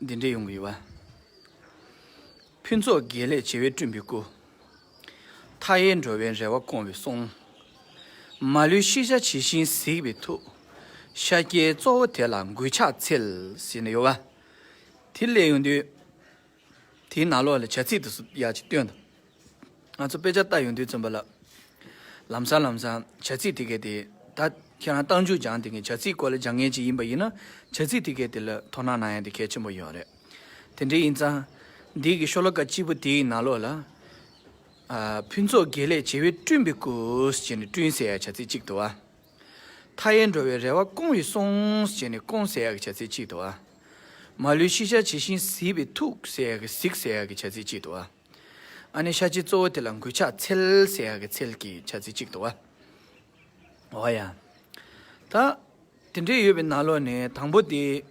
འདི་འདྲས་ཡོང་གི་ཡོད། ཕུན་ཚོགས་དགེ་ལེགས་བྱེ་བས་བསྐྲུན་པའི་སྐུ། མཐའ་ཡས་འགྲོ་བའི་རེ་བ་སྐོང་བའི་གསུང། མ་ལུས་ཤེས་བྱ་ཇི་བཞིན་གཟིགས་པའི་ཐུགས། ཤཱཀྱའི་གཙོ་བོ་དེ་ལ་མགུལ་ཕྱག་འཚལ། ཟེར་ནས་ཡོང། དེ་སླེབས་ཡོང་དུས། དེའི་ནང་ལོགས་ལ་བྱ་ཚིག་ཏུ་སུ་ཡག་ཅིག་བཏོན་འདུག། ང་ཚོ་དཔེ་ཆ་བལྟ་ཡོང་དུས་བཙོན་པ་ལབ། ལམ་སང་ལམ་སང་བྱ་ཚིག་དེ་གའི་དེ། ད་ཁྱེད་རང་གཏང་རྒྱུ་སྦྱང་དེ་གའི་བྱ་ཚིག་སྐོར་ལ་སྦྱང་མཁན་ཅིག་ཡིན་པ་ཡིན་ན་བྱ་ཚིག་དེ་གའི་དེ་ལ་དོ་སྣང་གནང་ཡང་དེ་གལ་ཆེན་པོ་ཡིན་བ་རེད། དེ་འདྲའི་ཡིན་ཙང། འདི་གའི་ཤོ་ལོ་ཀ་གཅིག་པོ་དེའི་ནང་ལོགས་ལ། ཕུན་ཚོགས་དགེ་ལེགས་བྱེ་བས་བསྐྲུན་པའི་སྐུ། ཞེས་ནས་བསྐྲུན་ཟེར་ཡག་བྱ་ཚིག་གཅིག་འདུག་བ། མཐའ་ཡས་འགྲོ་བའི་རེ་བ་སྐོང་བའི་གསུང། ཞེས་ནས་སྐོང་ཟེར་ཡག་གི་བྱ་ཚིག་གཅིག་འདུག་བ། མ་ལུས་ཤེས་བྱ་ཇི་བཞིན་གཟིགས་པའི་ཐུགས། ཟེར་ཡག་གི་གཟིགས་ཟེར་ཡག་གི་བྱ་ཚིག་གཅིག་འདུག་བ། ཨ་ནི་ཤ་ཆིའི་གཙོ་བོ་དེ་ལ་འགུལ་ཆགས་ཚེལ་ཟས་ཡག་གི་ཚེལ་གྱི་ཆ་ཚིལ་གཅིག་ཏུ་བ། ཡ། ད། དེ་འདྲས་ཡོད་པའི་ན་ལོ་ནས་དང་པོ་དེ།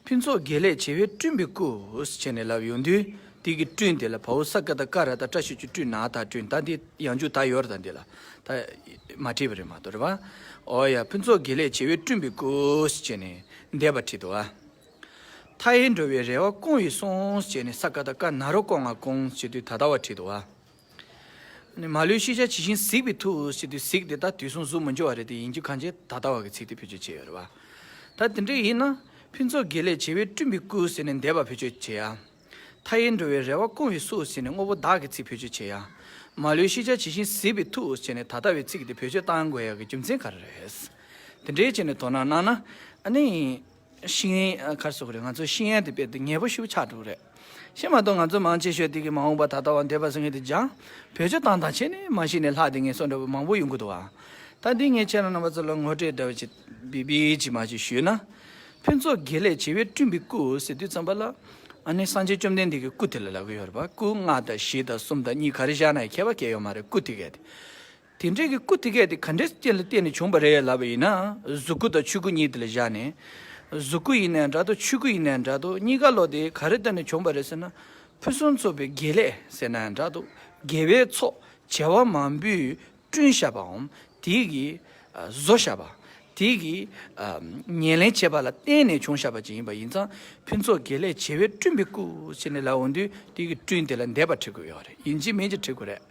ཕུན་ཚོགས་དགེ་ལེགས་བྱེ་བས་བསྐྲུན་པའི་སྐུ། བྱས་ནས་ལབ་ཡོང་དུས་དེ་གིས་བསྐྲུན་དེ་ལ་བ་འུ་ས་ཀ་ད་ཀ་ར་ད་བཀྲ་ཤིས་ཆུ་བསྐྲུན་ནག་ད་བསྐྲུན་ད་འདི་ཡང་འཇུག་ད་ཡོར་ད་འདི་ལ་ད། མ་བྲིས་པ་རེད་མ་གཏོགས་རེད་བ། ཡ། ཕུན་ཚོགས་དགེ་ལེགས་བྱེ་བས་བསྐྲུན་པའི་སྐུ། བྱས་ནས་འདས་པ་བྲིས་ཏོ་བ། མཐའ་ཡས་འགྲོ་བའི་རེ་བ་སྐོང་ཡི་སོང་ཅེས་ནས་ས་ཀ་ད་ཀ་ན་རོ་སྐོང་ང་སྐོང་ཅེས་དུས་ད་ལྟ་བར་བྲིས་འདུག་བ། མ་ལུས་ཤེས་བྱ་ཇི་བཞིན་གཟིགས་པའི་ཐུགས་ཞེས་དུས་གཟིགས་དེ་དག་དུས་གསུམ་གཟུགས་མི་འབྱོར་བ་རེད་དེ་ཡིན་རྒྱུ་གང་ཆེ་ད་ལྟ་བར་གྱི་ཚིག་དེ་བེད་སྤྱོད་བྱས་ཡོད་རེད་བ། ད་དེ་འདྲ་ཡིན་ན། ཕུན་ཚོགས་དགེ་ལེགས་བྱེ་བས་བསྐྲུན་པའི་སྐུ་ཟེར་ནས་འདས་པ་བེད་སྤྱོད་བྱེད་ཡ། མཐའ་ཡས་འགྲོ་བའི་རེ་བ་སྐོང་ཡི་སུ་ཟེར་ནས་དངོས་པོ་དག་གི་ཚིག་བེད་སྤྱོད་བྱེད་ཡ། མ་ལུས་ཤེས་བྱ་ཇི་བཞིན་གཟིགས་པའི་ཐུགས་ཞེས་ནས་ད་ལྟ་བའི་ཚིག་དེ་བེད་སྤྱོད་བཏང་དགོས་ཡ་གི་རྒྱུ་མཚན་ག་རེ་རེད། དེ་འདྲའི་བྱས་ནས་དོ་སྣང་གནང་ན། ཤིང་ཡན་གར་སོགས་རེད་ང་ཚོས་ཤིང་ཡན་དེ་དཔེ་དེབ་ངེས་པོ་ཞུ་ཆགས་འགྲོ་རེད། ཤིང་མ་གཏོགས་ང་ཚོ་མང་ཆེ་ཤོས་དེ་གི་མ་འོངས་པ་ད་ལྟ་བ་འདས་པ་སོང་ངེས་དེ་ལྗང་བོད་ཆུ་དྭངས་དང་ཆེ་ནས་མ་ཤི་ནས་ལྷག་དེ་ངན་སོང་འདྲ་བོ་མང་པོ་ཡོང་གི་འདུག་བ། ད་འདི་ངས་ཁྱེད་རང་རྣམ་པ་ཚོ་ལ་ངོ་སྤྲོད་འདྲ་བོ་ཅིག་བི་བི་ཅིག་མ་ཅིག་ཞུས་ན། ཕུན་ཚོགས་དགེ་ལེགས་བྱེ་བས་བསྐྲུན་པའི་སྐུ་ཟེར་དུས་ཙམ་པ་ལ། ཨ་ནི་སངས་རྒྱས་བཅོམ་ལྡན་འདས་ཀྱི་སྐུ་དེ་ལ་ལབ་གི་ཡོད་རེད་པ་སྐུ་ལྔ་དང་བཞི་དང་གསུམ་དང་གཉིས་ག་རེ་བཞག་ན་ཡང་ཁྱད་པ་གས་ཡོད་མ་རེད་སྐུ་དེ་གས་དེ། དེ་འདྲའི་གི་སྐུ་དེ་གས་དེ་ག་འདྲའི་རྐྱེན་ལ་བརྟེན་ནས་བྱུང་བ་རེད་ལབ་པ་ཡིན་ན་གཟུགས་སྐུ་དང་ཆོས་སྐུ་གཉིས་དེ་ལ་བཞག་ནས། གཟུགས་སྐུ་ཡིན་ནའི་འདྲ་དོ་ཆོས་སྐུ་ཡིན་ནའི་འདྲ་དོ་གཉིས་ཀ་ལོག་དེ་ག་རེ་ལྟར་ནས་བྱུང་བ་རེད་ཟེར་ན། ཕུན་སུམ་ཚོགས་པའི་དགེ་ལས་ཟེར་ནའི་འདྲ་དོ་དགེ་བའི་ཚོགས་བྱེ་བ་མང་པོས་བསྐྲུན་བཞག་པའམ་དེ་གིས་བཟོ་བཞག་པ། དེ་གིས་ཉེར་ལེན་བྱས་པ་ལ་བརྟེན་ནས་བྱུང་བཞག་པ་ཅིག་ཡིན་པ་ཡིན་ཙང་ཕུན་ཚོགས་དགེ་ལས་བྱེ་བས་བསྐྲུན་པའི་སྐུ་ཟེར་ནས་ལབ་འོང་དུས་དེ་གིས་བསྐྲུན་དེ་ལ་འདས་པ་ཁྲིད་དགོས་ཡོད་རེད་ཡིན་གཅིག་མིན་གཅིག་ཁྲིད་དགོས་རེད།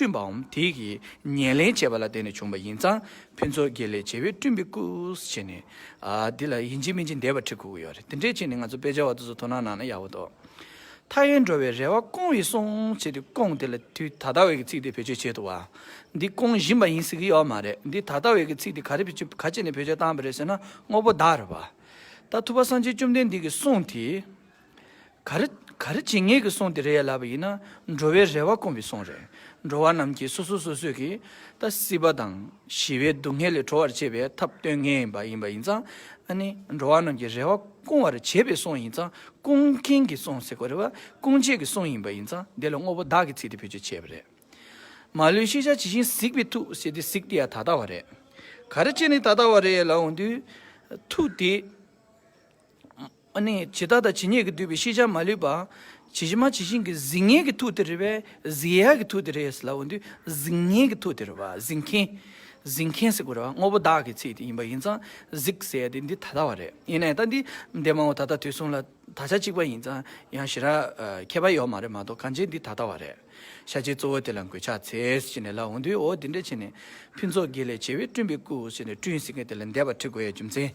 བསྐྲུན་པའམ་དེ་ཡི་ཉེར་ལེན་བྱས་པ་ལ་བརྟེན་ནས་བྱུང་བ་ཡིན་ཙང་ཕུན་ཚོགས་དགེ་ལེགས་བྱེ་བས་བསྐྲུན་པའི་སྐུས་བྱས་ནས། འདི་ལ་ཡིན་གཅིག་མིན་གཅིག་འདས་པ་ཁྲི་ཁུག་གི་ཡོད་རེད་དེ་འདྲའི་ཆེད་ནས་ང་ཚོ་དཔེ་ཆ་བ་དེ་ཚོ་དོ་སྣང་གནང་ན་ཡག་པོ་འདུག་མཐའ་ཡས་འགྲོ་བའི་རེ་བ་སྐོང་བའི་སོང་བྱེད་དེ་སྐོང་དེ་ལ་དུས་ད་ལྟ་བའི་གི་ཚིག་དེ་བེད་སྤྱོད་བྱེད་ཐུབ་བ། འདི་སྐོང་བཞིན་པ་ཡིན་ཟེར་གི་ཡོད་མ་རེད་འདི་ད་ལྟ་བའི་གི་ཚིག་དེ་ག་རེ་བེད་སྤྱོད་ག་ཅེས་ནས་བེད་སྤྱོད་བཏང་བ་རེད་ཟེར་ན་དངོས་པོ་བདག་རེད་བ། ད་ཐུབ་པ་སངས་རྒྱས་བཅོམ་ལྡན་འདས་ཀྱི་གསུང་དེ། ག་རེ་ག་རེ་བྱེད་ངེས་ཀྱི་གསུང་དེ་རེད་ཡ་ལབ་པ་ཡིན་ན་འགྲོ་བའི་རེ་བ་སྐོང་བའི་གསུང་རེད། འགྲོ་བ་རྣམས་ཀྱིས་སོ་སོ་སོ་སོས་ཀྱིས་ད་སྲིད་པ་དང་ཞི་བའི་སྡུག་བསྔལ་ལས་གྲོལ་བར་བྱེད་པའི་ཐབས་སྟོན་ངེས་ཡིན་པ་ཡིན་པ་ཡིན་ཙང་ཨ་ནི་འགྲོ་བ་རྣམས་ཀྱི་རེ་བ་སྐོང་བར་བྱེད་པའི་གསུང་ཡིན་ཙང་སྐོང་མཁན་གྱི་གསུང་ཟེར་དགོས་རེད་བ་སྐོང་བྱེད་ཀྱི་གསུང་ཡིན་པ་ཡིན་ཙང་དེ་ལ་དངོས་པོ་བདག་གི་ཚིག་དེ་བེད་སྤྱོད་བྱས་པ་རེད། མ་ལུས་ཤེས་བྱ་ཇི་བཞིན་གཟིགས་པའི་ཐུགས་ཟེར་དེ་གཟིགས་དེ་ཡང་ད་ལྟ་བ་རེད། ག་རེ་བྱེད་ནི་ད་ལྟ་བ་རེད་ལབ་འོང་དུས། ཐུགས་དེ། ཇི་ལྟ་དང་ཇི་སྙེད་ཀྱིས་བསྡུས་པའི་ཤེས་བྱ་མ་ལུས་པ། ཇི་བཞིན་མ་ཇི་བཞིན་གྱི་གཟིགས་ངེས་ཀྱི་ཐུགས་དེ་རེད་པས་གཟིགས་ཡས་ཀྱི་ཐུགས་དེ་རེད་ཟེར་ལ་འོ་འདུས་གཟིགས་ངེས་ཀྱི་ཐུགས་དེ་རེད་པ་གཟིགས་མཁན། གཟིགས་མཁན་ཟེར་དགོས་རེད་པ་དངོས་པོ་བདག་གི་ཚིག་དེ་ཡིན་པ་ཡིན་ཙང་གཟིགས་ཟེར་ཡས་དེ་འདི་ད་ལྟ་བ་རེད་ཡིན་ནའི་ད་འདི་འདས་མ་འོངས་ད་ལྟ་དུས་གསུམ་ལ་ད་ཆ་གཅིག་པ་ཡིན་ཙང་ཡང་ཞི་རགས་ཁྱད་པར་ཡོད་མ་རེད་མ་གཏོགས་གང་ཅིའི་འདི་ད་ལྟ་བ་རེད། ཤ་ཆེའི་གཙོ་བོ་དེ་ལ་འགོས་ཕྱག་འཚལ་ཅི་ནས་ལ་འོ་འདུས་འོ་འདི་འདྲས་བྱས་ནས་ཕུན་ཚོགས་དགེ་ལས་བྱེ་བའི་སྤྲུན་པའི་སྐུ་ཞེས་ནས་སྤྲུན་ཟེར་མཁན་དེ་ལ་འདས་པ་ཁྲི་སྒོ་ཡའི་རྒྱུ་མཚན།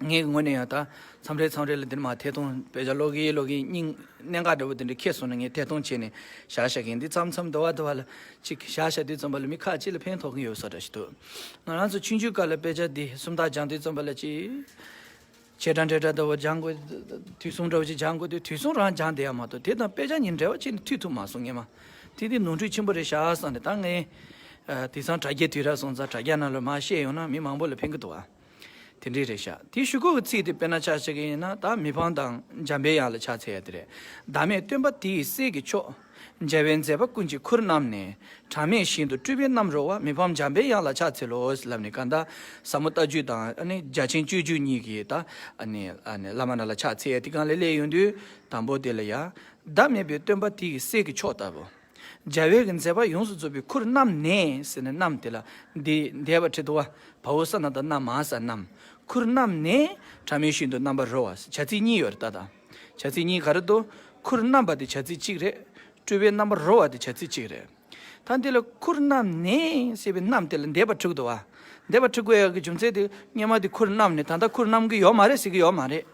ངའི་ངོ་ནས་ཡང་དག་མཚམས་རེ་མཚམས་རེ་ལ་འདིར་མ་ཐད་གཏོང་བས་བྱ་ལོག་གིས་ལོག་གིས་སྙིང། གནད་འགག་འདྲ་བོ་དེ་འདྲ་ཁྱེད་སོང་ན་ངས་ཐད་གཏོང་བྱས་ནས་བཞག་བཞག་གིན་འདི་མཚམས་མཚམས་ཟློ་བ་ཟློ་བ་ལ་གཅིག་བཞག་བཞག་འདི་རྩོམ་པ་ལ་མི་ཁག་གཅིག་ལ་ཕན་ཐོགས་གིན་ཡོད་ས་འདྲ་ཞིག་འདུག་ང་རང་ཚོ་ཆུང་ཆུང་སྐབས་ལ་དཔེ་ཆ་འདི་སུམ་རྟགས་སྦྱང་དུས་རྩོམ་པ་ལ་ཅི། བྱེད་འདྲ་འདྲེ་འདྲ་ཟློ་བ་སྦྱང་དགོས། དུས་གསུམ་འདྲ་བོ་ཅིག་སྦྱང་དགོས་དུས་དུས་གསུམ་རང་སྦྱང་བསྡད་ཡ་མ་གཏོགས་དེ་དང་དཔེ་ཆ་གཉིས་འབྲེལ་བ་ཅི་ནས་ཐུག་ཐུབ་མ་སོང་ངས་མ་ཐིག་འདི་ནོར་འཁྲུལ་ཆེན་པོ་རེད་བཞག་བསམ་ནས་ད་ངས། དེང་སང་དྲ་རྒྱའི་དུས་རག་སོང་ཙང་དྲ་རྒྱ་རྣམས་ལ་མ་བཤད་ཡོང་ན་མི་མང་པོ་ལ་ཕན་གི་འདུག་བ། དེ་འདྲའི་རེད་ཤག་དེ་ཞུ་ཁོ་གི་ཚིག་དེ་དཔེར་ན་ཆགས་ཆགས་ཀྱི་ཡིན་ན་ད་མི་ཕང་དང་འཇམ་པའི་ཡག་ལ་ཆགས་ཚད་ཡག་དེ་རེད་བདག་མེད་སྟོན་པ་དེའི་སྲས་ཀྱི་མཆོག། མཇལ་བའི་མཛད་པ་ཀུན་གྱི་ཁུར་བསྣམས་ནས་གྲངས་མེད་བཞིན་དུ་སྤྲུལ་པའི་རྣམ་རོལ་བ་མི་ཕམ་འཇམ་པའི་ཡག་ལ་ཆགས་ཚད་ལོས་ལབ་ནས་ག་ད་ཟབ་མོ་རྟ་བཅུ་དང་རྒྱ་ཆེན་སྤྱོད་བཅུ་གཉིས་ཀྱི་ད་བླ་མ་རྣམས་ལ་ཆགས་ཚད་ཡག་དེ་གང་ལས་སླད་ཡོང་དུས་དང་པོ་དེ་ལ་ཡག་བདག་མེད་པའི་སྟོན་པ་དེའི་སྲས་ཀྱི་མཆོག་ལྟ་བུ། འཇའ་འོད་ཀྱི་མཛེས་པ་ཡོངས་སུ་རྫོགས་པའི་ཁུར་བསྣམས་ནས་ཟེར་ནས་བསྣམས་དེ་ལ། འདི་འདས་པ་ཁྲི་དོ་བ་བ་འོ་ས་ན་དང་ན་མ་ས་བསྣམས། ཁུར་བསྣམས་ནས་ཕྲ་མོའི་ཤིན་ཏུ་རྣམ་པར་རོལ་བ་བྱ་ཚིག་གཉིས་ཡོད་རེ་ད་དང། བྱ་ཚིག་གཉིས་ག་རེ་དོ། ཁུར་བསྣམས་པ་དེ་བྱ་ཚིག་གཅིག་རེད། སྤྲུལ་པའི་རྣམ་པར་རོལ་བ་དེ་བྱ་ཚིག་གཅིག་རེད། ད་འདི་ལ་ཁུར་བསྣམས་ནས་ཞེས་པའི་བསྣམས་དེ་ལ་འདས་པ་ཁྲི་དོ་བ། འདས་པ་ཁྲི་དགོས་ཡག་གི་རྒྱུ་མཚན་དེ་སྙེ་མ་དེ་ཁུར་བསྣམས་ནས་ད་ལྟ་ཁུར་བསྣམས་གི་ཡོད་མ་རེད་ཟེར་གི་ཡོད་མ་རེད།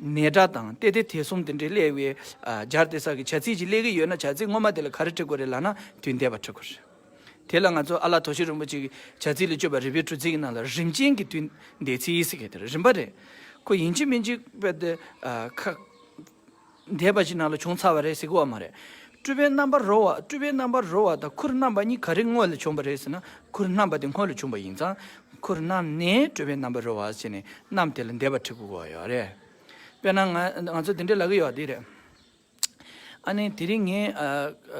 ནས་སྒྲ་དང་སྟེ་དེ་དེ་གསུམ་དེ་འདྲའི་ཀླད་བའི་སྦྱར་ཏེ་ས་ཀྱི་བྱ་ཚིག་ཅིག་ཀླད་ཀྱི་ཡོད་ན་བྱ་ཚིག་ངོ་མ་དེ་ལ་ག་རེ་བྲི་དགོས་རེད་ལགས་ན་དུས་འདས་པ་བྲི་དགོས་རེད། དེ་ལ་ང་ཚོ་ཨ་ལ་དོ་ཤི་རིན་པོ་ཆེ་གི་བྱ་ཚིག་ལས་སྤྱོད་པ་རི་བོའི་གྲུ་ཚིག་གི་ནང་ལ་རིམ་ཅན་གྱི་དུས་འདས་ཚིག་ཡིག་ཟེར་མཁན་དེ་རིམ་པ་རེད། ཁོ་ཡིན་གཅིག་མིན་གཅིག་བལྟ་ཁག། འདས་པ་ཞིག་ན་ལ་བྱུང་ཚར་བ་རེད་ཟེར་གི་བ་མ་རེད། སྤྲུལ་པའི་རྣམ་པར་རོལ་བ་སྤྲུལ་པའི་རྣམ་པར་རོལ་བ་དང་ཁུར་བསྣམས་པ་གཉིས་ག་རེ་དངོས་ལས་བྱུང་བ་རེད་ཟེར་ན་ཁུར་བསྣམས་པ་དེ་དངོས་ལས་བྱུང་བ་ཡིན་ཙང། ཁུར་བསྣམས་ནས་སྤྲུལ་པའི་རྣམ་པར་རོལ་བ་བྱས་ནས་བསྣམས་དེ་ལ་འདས་པ་ཁྲིག་པོ་གོ་བ་ཡོད་རེད། དཔེར་ན་ང་ང་ཚོ་འདི་འདྲའི་ལ་གི་ཡོད་དེ་རེད། ཨ་ནི་དེ་རིང་ངས་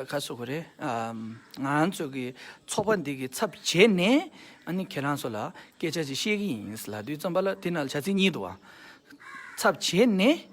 ཁ་གསོ་གི་རེད། ང་ཚོ་གི་ཚོགས་པ་འདི་གི་ཚབ་བྱས་ནས་ཨ་ནི་ཁྱེད་རང་ཚོ་ལ་སྐད་ཆ་ཅིག་བཤད་གི་ཡིན་ལ་དུས་རྩོམ་པ་ལ་དེ་ན་ལ་བྱ་ཚིག་གཉིས་འདུག་བ། ཚབ་བྱས་ནས་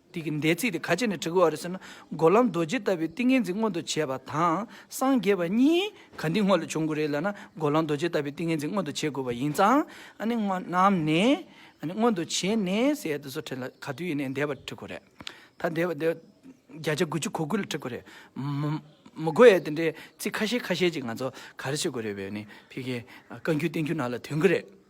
དེ་གི་འདས་ཚིག་དེ་ག་ཅི་ནས་བྲི་དགོས་བ་རེད་ཟེར་ན་སྒོ་ལམ་རྡོ་རྗེ་ལྟ་བུའི་ཏིང་ངེ་འཛིན་མངོན་དུ་བྱེད་པ་དང་སངས་རྒྱས་པ་གཉིས་ག་འདི་སྔོན་ལ་བྱུང་དགོས་རེད་ལ་ན་སྒོ་ལམ་རྡོ་རྗེ་ལྟ་བུའི་ཏིང་ངེ་འཛིན་མངོན་དུ་བྱེད་དགོས་པ་ཡིན་ཙང་ཨ་ནི་སྔོན་རྣམས་ནས་ཨ་ནི་མངོན་དུ་བྱས་ནས་ཟེར་ཡ་དེ་ཚོ་བྲིས་ལ་ག་དུས་ཡིན་ནས་འདས་པ་བྲི་དགོས་རེད་ད་འདས་པ་འདས་བརྒྱ་ཆ་དགུ་ཅུ་གོ་དགུ་ལ་བྲི་དགོས་རེད་མ་མགོ་ཡ་དེ་འདྲའི་ཚིག་ཁ་ཤས་ཁ་ཤས་ཅིག་ང་ཚོ་ག་རེ་བྱེད་དགོས་རེད་བས་ནི་ཕི་གེ་བཀའ་འགྱུར་བསྟན་འགྱུར་ནང་ལ་དོན་གི་རེད།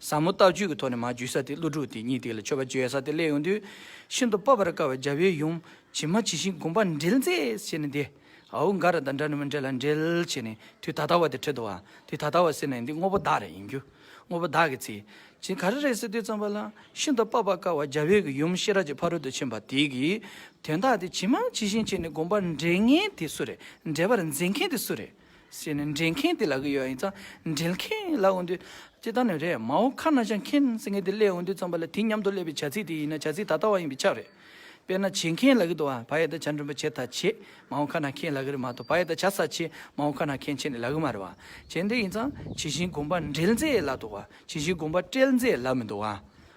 ཟབ་མོ་ལྟ་སྤྱོད་ཀྱི་ཐོག་ནས་མ་བརྒྱུད་ས་སྟེ་ཀླུ་སྒྲུབ་དེ་ཉིད་དེ་ལ་མཆོད་པ་བརྗོད་ཡ་ས་སྟེ་སླད་ཡོང་དུས། ཤིན་ཏུ་སྤོབས་པར་དཀའ་བའི་རྒྱལ་པོའི་ཡུམ། ཇི་མ་ཇི་བཞིན་བསྒོམ་པ་འདྲིལ་མཛད་བྱས་ནས་འདི། ཨའུ་འགའ་ར་དང་འདྲ་ནི་མི་འདྲེ་ལ་འདྲིལ་བྱས་ནས་དུས་ད་ལྟ་བ་དེ་ཁྲི་དུ་བ། དུས་ད་ལྟ་བ་ཟེར་ནས་འདི་དངོས་པོ་བདག་རེ་ཡིན་རྒྱུ། དངོས་པོ་བདག་གི་ཚེ། ཇི་ག་རེ་རེད་ཟེར་དུས་ཙམ་པ་ལ། ཤིན་ཏུ་སྤོབས་པར་དཀའ་བ་རྒྱལ་པོའི་གི་ཡུམ་ཤེས་རབ་ཀྱི་ཕ་རོལ་ཏུ་ཕྱིན་པ་དེ་གི། དོན་དག་དེ་ཇི་མ་ཇི་བཞིན་བྱས་ནས་བསྒོམ་པར་འདྲེལ་ངན་དེ་སུ་རེད་འདྲེལ་པར་མཛད་མཁན་དེ་སུ་རེད། ཟེར་ནས་འདྲེན་མཁན་དེ་ལ་གི་ཡོད་ཡིན་ཙང་འདྲེན་མཁན་ལ་འོན་དུས་ཅི་ལྟར་ནས་རེད་མའོ་ཁ་ན་ཤ་མཁན་ཟེར་མཁན་དེ་སླེ་འོན་དུས་ཙམ་པ་ལ་དེ་མཉམ་དུ་སླེ་བའི་བྱ་ཚིག་དེ་ཡིན་ན་བྱ་ཚིག་ད་ལྟ་བ་ཡིན་པའི་ཆ་རེད། དཔེར་ན་བྱེད་མཁན་ལ་གི་དུ་བ་བ་ཡེ་ད་བྱ་འདྲོན་པ་བྱེད་ད་བྱེད་མའོ་ཁ་ན་མཁན་ལ་གི་རེད་མ་དུ་བ་ཡེ་ད་བྱ་ས་བྱེད་མའོ་ཁ་ན་མཁན་བྱེད་ནི་ལ་གི་མ་རེད་བ་བྱེད་འདི་ཡིན་ཙང་བྱེད་བཞིན་གོམས་པ་འདྲེལ་མཛད་ལ་དུ་བ་བྱེད་བཞིན་གོམས་པ་སྤྲེལ་མཛད་ལ་མི་དུ་བ།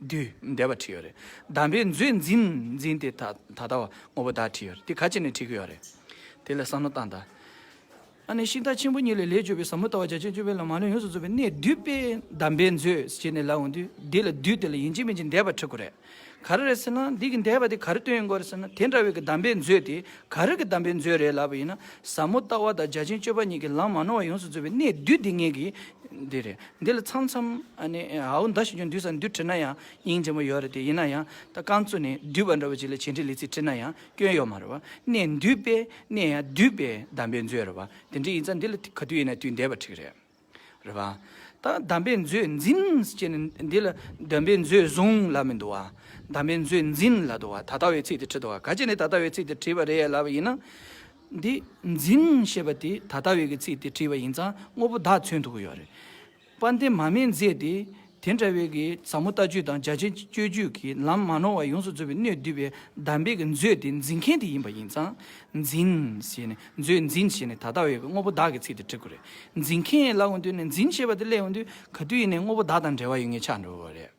བདུད། འདས་པ་བྲིས་ཡོད་རེད། གདམས་པའི་མཛོད་འཛིན་འཛིན་དེ་ད་ད་ལྟ་བ་ངོ་བོ་དག་བྲིས་ཡོད་རེད་དེ་ག་ཅི་ནས་བྲིས་ཀྱི་ཡོད་རེད། དེ་ལས་བསམ་མནོ་བཏང་ད། ཨ་ནི་ཤིང་རྟ་ཆེན་པོ་གཉིས་ལས་ལས་བཅོས་པའི་ཟབ་མོ་ལྟ་བ་རྒྱ་ཆེན་བཅོས་པའི་ལམ་མ་ལུས་ཡོངས་སུ་རྫོགས་པའི་གནད་བསྡུས་པས་གདམས་པའི་མཛོད་ཅེས་ནས་ལབ་འོང་དུས་འདི་ལ་བདུད་དེ་ལ་ཡིན་གཅིག་མིན་གཅིག་འདས་པ་བྲི་དགོས་རེད། ག་རེ་རེད་ཟེར་ན་འདི་གི་འདས་པ་དེ་ག་རེ་སྟོན་ཡོད་འགོར་ཟེར་ན་དེ་འདྲ་བའི་གི་གདམས་པའི་མཛོད་དེ་ག་རེ་གི་གདམས་པའི་མཛོད་རེད་ལབ་པ་ཡིན་ན་ཟབ་མོ་ལྟ་བ་དང་རྒྱ་ཆེན་བཅོས་པ་གཉིས་ཀྱི་ལམ་མ་ནོར་བ་ཡོངས་སུ་རྫོགས་པའི་གནད་བསྡུས་དེ་ངེད་ཀྱི་འདི་རེད། འདི་ལ་ཚང་ཚང་ནི་ཧའོ་འདའ་ཞིག་ཀྱང་འདུས་སམ་འདུས་བྲིས་ན་ཡང་སྙིང་རྗེ་མོ་ཡོད་རེད་དེ་ཡིན་ན་ཡང་ད་རྐང་བཙུགས་ནས་འདུས་པ་འདྲ་བོ་ཅིག་ལ་བྱེད་འབྲེལ་ལི་ཚིག་བྲིས་ན་ཡང་སྐྱོན་ཡོད་མ་རེད་བ་གནས་འདུས་པས་གནས་ཡང་འདུས་པས་གདམས་པའི་མཛོད་རེད་བ་དེ་འདྲ་ཡིན་ཙང་འདི་ལ་ག་དུས་ཡིན་ན་དུས་འདས་པ་ཁྲིག་རེད། རེད་བ། ད་གདམས་པའི་མཛོད་འཛིན་ཅེས་ནི་འདི་ལ་གདམས་པའི་མཛོད་བཟུང་ལབ་མི་འདུག་བ་གདམས་པའི་མཛོད་འཛིན་ལབ་འདུག་བ་ད་ལྟ་བའི་ཚིག་དེ་བྲིས་འདུག་བ་ག་ཅི་ནས་ད་ལྟ་བའི་ཚིག་དེ་བྲིས་པ་རེད་ལབ་པ་ཡིན་ན། འདི་འཛིན་ཞེས་པ་དེ་ད་ལྟ་བའི་གི་ཚིག་དེ་བྲིས་པ་ཡིན་ཙང་དངོས་པོ་དག་མཚོན་ཐུབ་ཀྱི་ཡོད་རེད། པར་འདི་མ་མི་མཛད་དེ། དེ་འདྲ་བའི་གི་ཟབ་མོ་ལྟ་སྤྱོད་དང་རྒྱ་ཆེན་སྤྱོད་རྒྱུད་ཀྱི་ལམ་མ་ནོར་བ་ཡོངས་སུ་རྫོགས་པའི་སྣོད་བསྡུས་པའི་གདམས་པའི་གི་མཛོད་དེ་འཛིན་མཁན་དེ་ཡིན་པ་ཡིན་ཙང། འཛིན་ཞེས་ནས་མཛོད་འཛིན་ཞེས་ནས་ད་ལྟ་བའི་གི་དངོས་པོ་དག་གི་ཚིག་དེ་བྲི་དགོས་རེད། འཛིན་མཁན་ལ་འོན་ཏེ་ནས་འཛིན་ཞེས་པ་དེ་སླེབས་འོན་དུས་ག་དུས་ཡིན་ནས་དངོས་པོ་དག་དང་འབྲེལ་བ་ཡོད་ངེས་ཆགས་འགྲོ་བ་རེད།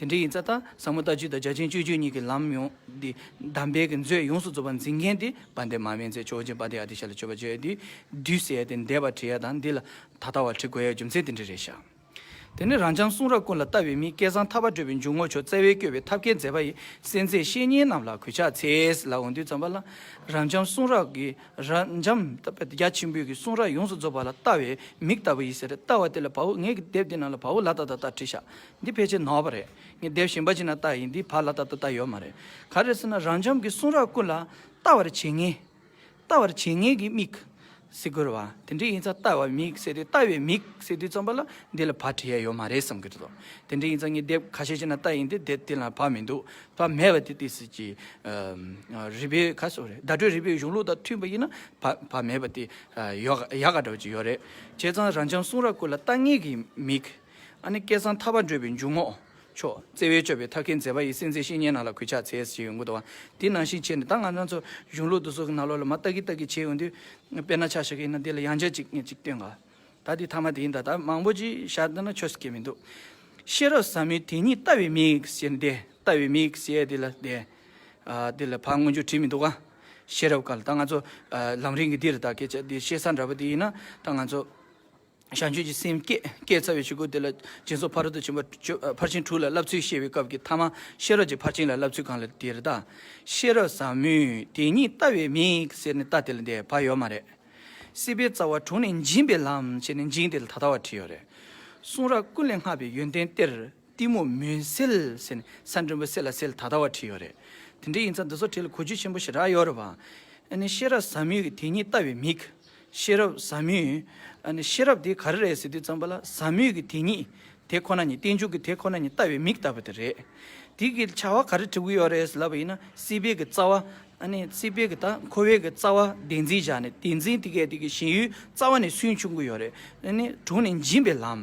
དེ་འདྲའི་ཡིན་ཙང་ད་བཟང་མོ་ལྟ་སྤྱོད་དང་རྒྱ་ཆེན་སྤྱོད་སྤྱོད་གཉིས་ཀྱི་ལམ་ཡོངས་འདི་གདམས་པའི་གི་མཛོད་ཡོངས་སུ་རྫོགས་པར་འཛིན་མཁན་དེ་བ་འདས་མ་དབེན་ཚེ་ཆོས་རྗེ་འབའ་ཏི་ཨ་ཏི་ཤ་ལ་སྤྱོད་པ་སྤྱོད་ཡས་དེ་འདུས་གསལ་ཡས་དེ་འདས་པར་བྲི་ཡས་དང་འདི་ལ་ད་ལྟ་བར་བྲི་དགོས་ཡས་རྒྱུ་མཚན་དེ་འདྲའི་རེད་ཤག། དེ་ནས་རང་བྱང་གསུང་རབ་ཀུན་ལ་ལྟ་བའི་མིས་སྐལ་བཟང་ཐར་པ་བགྲོད་པའི་འཇུག་ངོགས་མཆོག་བཙལ་བས་བསྐྱོད་པའི་ཐབས་མཁས་མཛད་པ་ཡི་གསན་ཚད་བཤེས་གཉེན་རྣམས་ལ་གུས་ཕྱག་འཚལ་ལ་འོང་དུས་བརྩམས་པ་ལ། རང་བྱང་གསུང་རབ་ཀྱི་རབ་འབྱམས་རྒྱ་ཆེན་པོའི་གི་གསུང་རབ་ཡོངས་སུ་རྫོགས་པ་ལ་ལྟ་བའི་མིག་ལྟ་བུ་ཡི་ཟེར་ལྟ་བ་དེ་ལ་བ་བུ་ངས་ཀྱི་དེབ་འདི་རྣམས་ལ་བ་བུ་ལ་ད་ད་ལྟར་བྲིས་ཤག་འདི་ཕལ་ཆེར་ནོར་བ་རེད། ངས་དེབ་གཞན་པ་ཅིག་ན་བལྟ་ཡིན་འདི་བར་ལ་ད་ལྟ་བལྟ་ཡོད་མ་རེད། ག་རེ་ཟེར་ན་རང་འཇམ་གྱི་གསུང་རབ་ཀུན་ལ་ལྟ་བར་བྱེད་ངེས། ལྟ་བར་བྱེད་ངེས་ཀྱི་མིག། སེ་གོལ་བ། དེ་འདྲས་ཡིན་ཚ་ལྟ་བའི་མིག་ཟེར་ཏེ་ལྟ་བའི་མིག་ཟེར་དུས་བརྩམས་པ་ལ་འདི་ལ་བར་བྲལ་ཡོད་མ་རེད་བསམ་གྱི་འདུག་དེ་འདྲས་ཡིན་ཚ་ངས་དེབ་ག་ཤེད་ཅིག་ན་བལྟ་ཡིན་འདི་དེབ་དེ་ལ་བར་མི་འདུག་བར་མེད་པ་དེ་དེ་སྲིད་ཀྱི། རི་པའི་ག་སོ་རེད་བརྡ་སྤྲོད་རི་པའི་གཞུང་ལུགས་དང་མཐུན་པ་ཡིན་ན་བར་མེད་པ་དེ། ཡག་ག་འདྲ་བ་ཅིག་ཡོད་རེད། བྱས་ཙང་རང་འཇམ་གསུང་རབ་ཀུན་ལ་ལྟ་ངེས་ཀྱི་མིག། ཨ་ནི་སྐལ་བཟང་ཐར་པར་འབྲོས་པའི་འཇུག་ངོགས། བྷྱོ། བརྩེ་བས་སྤྱོད་པའི་ཐབས་མཁས་མཛེས་པ་ཡི་སེམས་ཅན་བཤེས་གཉེན་རྣམས་ལ་གུས་ཕྱག་འཚལ་ཞེས་ཡོན་གུ་དོ། དེ་ནང་བཞིན་བྱས་ནས་ད་ང་རང་ཚོ་གཞུང་ལུགས་འདི་ཚོ་གི་ནང་ལོགས་ལ་མ་ལྟ་གི་ལྟ་གི་བྱེད་འོང་དུས། དཔེར་ན་ཆ་ཞག་ཡིན་ན་དེ་ལ་ཡང་ཆ་གཅིག་ངེས་ཅིག་སྟོན་ག། ད་དེ་ཐ་མ་དེ་ཡིན་ད་ད་མང་པོ་ཅིག་བཞག་འདི་ན་ཆོས་སུ་སྐྱེ་མི་འདུག། ཤེས་རབ་ཟབ་མོའི་དེ་ཉིད་ལྟ་བའི་མིག་ཞེས་ནི་བདེ། ལྟ་བའི་མིག་ཞེས་དེ་ལ་བདེ། དེ་ལ་ཕར་མངོན་རྒྱུ་བྲིས་མི་འདུག་ག། ཤེས་རབ་ག་ལ་ད་ང་ཚོ་ལམ་རིམ་གྱི་འདི་ལ་ད་གས་ཆ་འདི་ཤེས་ས་འདྲ་པོ་དེ་ཡིན་ན་ད་ང་ཚོ། བྱང་ཆུབ་ཀྱི་སེམས་བསྐྱེད་བསྐྱེད་རྩ་བའི་ཆོས་སྐུ་དེ་ལ་སྦྱིན་སོགས་ཕ་རོལ་ཏུ་ཕྱིན་པ་ཕར་ཕྱིན་དྲུག་ལ་བསླབ་ཚུལ་བཤད་པའི་སྐབས་ཀྱི་ཐ་མ་ཤེས་རབ་ཀྱི་ཕར་ཕྱིན་ལ་བསླབ་ཚུལ་གང་ལ་དེ་རེ་ད་ཤེས་རབ་ཟབ་མོས་དེ་ཉིད་ལྟ་བའི་མིག་ཟེར་ནས་ལྟ་དེ་ལ་འདས་བག་ཡོད་མ་རེད། སྲིད་པའི་རྩ་བ་དྲུངས་ནས་འབྱིན་པའི་ལམ་ཅེས་ནས་འབྱིན་དེ་ལ་ད་ལྟ་བ་བྲིས་ཡོད་རེད། གསུང་རབ་ཀུན་ལས་སྔགས་པའི་ཡོན་ཏན་གཏེར། གཏི་མུག་མུན་སེལ་ཟེར་ནས་ས་འབྲུམ་བུ་སེལ་ལ་སེལ་ད་ལྟ་བ་བྲིས་ཡོད་རེད། དེ་འདྲའི་ཡིན་ཚ་འདི་ཚོ་བྲིས་ལ་གོ་རྒྱུ་ཆེན་པོ་ཞིག་རག་ཡོད་རེད་བ། ནི་ཤེས་རབ་ཟབ་མོའི་དེ་ཉིད་ལྟ་བའི་མིག། ཤེས་རབ་ཟབ་མོའི། ནི་ཤེས་རབ་དེ་ག་རེ་རེད་ཟེར་དུས་ཙམ་པ་ལ་ཟབ་མོའི་གི་དེ་ཉིད། དེ་ཁོ་ན་ཉིད་རྟེན་འབྱུང་གི་དེ་ཁོ་ན་ཉིད་ལྟ་བའི་མིག་ལྟ་བུ་དེ་རེད། དེ་གི་བྱ་བ་ག་རེ་བྲི་གི་ཡོད་རེད་ཟེར་ལབ་པ་ཡིན་ན་སྲིད་པའི་གི་རྩ་བ། ནི་སྲིད་པའི་གི་ད་འཁོར་བའི་གི་རྩ་བ་བདེན་འཛིན་བཞག་ནས་བདེན་འཛིན་དེ་གའི་དེ་གི་ཞེན་ཡུལ་རྩ་བ་ནས་སུན་ཕྱུང་གི་ཡོད་རེད། ནི་དྲུང་ནས་འབྱིན་པའི་ལམ།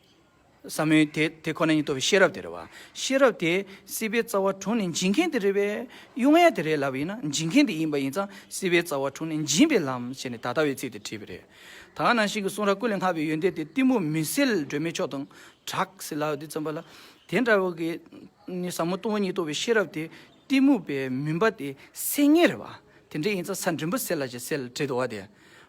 ཟབ་མོའི་དེ་དེ་ཁོ་ན་ཉིད་རྟོགས་པའི་ཤེས་རབ་དེ་རེད་བ། ཤེས་རབ་དེ་སྲིད་པའི་རྩ་བ་དྲུག་ནི་འབྱིན་མཁན་དེ་རེད་པས། དབྱུང་བ་དེ་རེད་ལབ་པ་ཡིན་ན་འབྱིན་མཁན་དེ་ཡིན་པ་ཡིན་ཙང་སྲིད་པའི་རྩ་བ་དྲུག་ནི་འབྱིན་པའི་ལམ་ཞེས་ནི་ད་ལྟ་བའི་ཚིག་དེ་བྲིས་པ་རེད། ད་ནང་བཞིན་གྱི་གསུང་རབ་ཀུན་ལས་སྔ་བའི་ཡོན་ཏན་དེ་གཏི་མུག་མི་སེལ་སྒྲོན་མེ་མཆོག་དང་གྲགས་སེ་ལའོ་དེ་ཙམ་པ་ལ། དེ་འདྲ་བ་གིས་ནི་ཟབ་མོ་སྟོང་བ་ཉིད་རྟོགས་པའི་ཤེས་རབ་དེ་གཏི་མུག་པའི་མུན་པ་དེ་སེལ་ངེས་རེད་བ། དེ་འདྲས་ཡིན་ཚ་ས་འབྲིང་པོ་སེལ་ལ་ཅིག་སེལ་ལ་བྲིད་དོ་བ་དེ།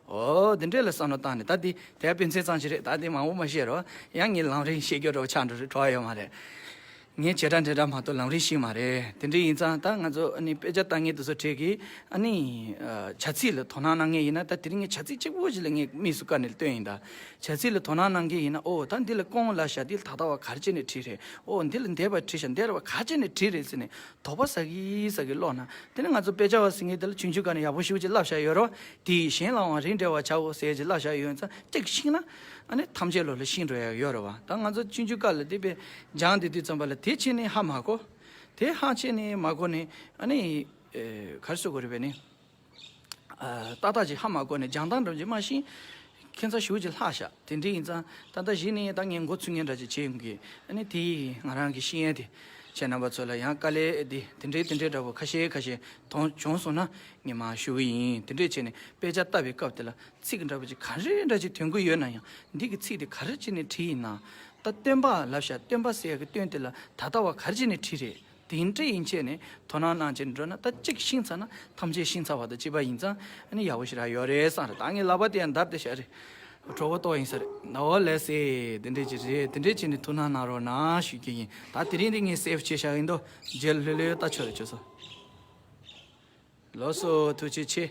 ཨོ། དེ་འདྲས་ལ་བསམ་བློ་བཏང་ནས་ད་དེ་དེ་ཕན་ཚན་ཙང་ཞིག་རེད་ད་དེ་མང་བོ་མ་ཤེས་རོགས། ཡང་ངས་ལམ་རིང་ཤེས་རྒྱུ་འགྲོ་བ་ཆགས་འགྲོ་རེད་བྲོ་བ་ཡོད་མ་རེད། ངས་བྱེད་སྒྲ་འདྲེ་སྒྲ་མ་གཏོགས་ལམ་རིང་ཞིག་མ་རེད། དེ་འདྲས་ཡིན་ཙང་ད་ང་ཚོ་ཨ་ནི་དཔེ་ཆ་ལྟ་ངེས་དུ་སོ་ཁྲེ་གིས་ཨ་ནི། བྱ་ཚིག་ལ་དོ་སྣང་གནང་ངེས་ཡིན་ན་ད་དེ་རིང་ངས་བྱ་ཚིག་གཅིག་པོ་ཞིག་ལ་ངས་དམིགས་སུ་བཀར་ནས་ལྟོས་ཡིན་ད། བྱ་ཚིག་ལ་དོ་སྣང་གནང་མཁན་ཡིན་ན་ཨོ་ད་འདི་ལ་སྐོང་ལ་ཞག་འདི་ལ་ད་ལྟ་བ་གར་བྱས་ནས་བྲིས་རེད་ཨོ་འདི་ལ་འདས་པར་བྲིས་ཞག་འདས་ར་བ་གར་བྱས་ནས་བྲིས་རེད་ཟེར་ནས་དོགས་པ་ཟ་གི་ཟ་གི་ཀློག་ན་དེ་ནི་ང་ཚོ་དཔེ་ཆ་བ་ཟེར་མཁན་དེ་ལ་ཆུང་ཆུང་ག་ནས་ཡག་པོ་ཞུ་ཅིག་བསླབ་བཞག་ཡོད་རོགས་དེས་གཞན་ལའང་རིགས་འགྲེ་བ་བྱའོ་ཟེར་ཅིག་བསླབ་བཞག་ཡོད་ཙང་ཅིག་ཤིག་ན་ཨ་ནི་ཐམས་ཅད་ལོ་ལ་ཤིང་འགྲོ་ཡག་ཡོད་རེད་བ་ད་ང་ཚོ་ཆུང་ཆུང་ག་ལ་དེ་དཔེ་སྦྱང་དེ་དུས་ཙམ་པ་ལ་དེ་ཕྱིན་ནས་ཧ་མ་གོ་དེ་ཧ་ཕྱིན་ནས་མ་གོ་ནས་ཨ་ནི་གར་བཟོ་དགོས་རེད་བས་ནི། ཏག་ཏག་ཅིག་ཧ་མ་གོ་ནས་སྦྱང་སྟངས་འགྲམ་གྱི་སྨྲ་ཤིང། ཁྱེད་ཚང་ཞུགས་ཀྱི་ལྷག་བཞག་དེ་འདྲས་ཡིན་ཙང་ད་ལྟ་གཞི་ནས་ད་ངས་མགོ་ཚུད་ངེས་འདྲ་ཅིག་བྱེད་ཡོང་གི། ཨ་ནི་དེ་ཡིས་ང་རང་གི་ཤེས་ཡན་དེ་བྱས་རྣམ་པ་ཚོ་ལ་ཡང་དཀའ་ལས་འདི་དེ་འདྲས་དེ་འདྲས་འདྲ་བོ་ཁ་ཤས་ཁ་ཤས་དོང་བྱུང་སོང་ན་ངས་མ་ཞུ་གི་ཡིན་དེ་འདྲས་བྱས་ནས་དཔེ་ཆ་བལྟ་བའི་སྐབས་དེ་ལ་ཚིག་གི་འདྲ་པོ་ཅིག་ག་རེ་འདྲ་ཅིག་དོན་གུ་ཡོད་ན་ཡང་འདི་གི་ཚིག་དེ་ག་རེ་བྱས་ནས་བྲིས་ཡིན་ནམ། ད་སྟོན་པ་ལབ་ཤག་སྟོན་པ་ཟེར་ཡག་གི་སྟོན་དེ་ལ་ད་ལྟ་བ་ག་རེ་བྱས་ནས་བྲིས་རེད་དེ་འདྲ་ཡིན་ཆད་ནས་དོ་སྣང་གནང་བྱེད་འགྲོ་ན་ད་གཅིག་ཤིང་ཚ་ན་ཐམས་ཅད་ཤིང་ཚ་བ་དང་བྱིས་པ་ཡིན་ཙང་ནི་ཡག་པོ་ཞིག་རག་ཡོད་རེད་བསམ་རེད་ད་ངས་ལབ་པ་དེ་ཡང་འདར་དེ་ཤར་རེད་གྲོགས་པོ་ཏོག་ཡིན་ས་རེད་ན་འོ་ལེ་སེ་དེ་འདྲས་ཀྱི་རེད་དེ་འདྲས་ཀྱི་ནི་ཐུགས་སྣང་གནང་རོགས་གནང་ཞུ་རྒྱུ་ཡིན་ད་དེ་རིང་འདི་ངས་སེ་བ་བྱས་ཤག་ཡིན་དོ་རྗེས་ལྷོད་ལྷོད་ལྟ་ཆོག་རེད་ཅོ་སོ། ལོ་སོ་ཐུགས་རྗེ་ཆེ།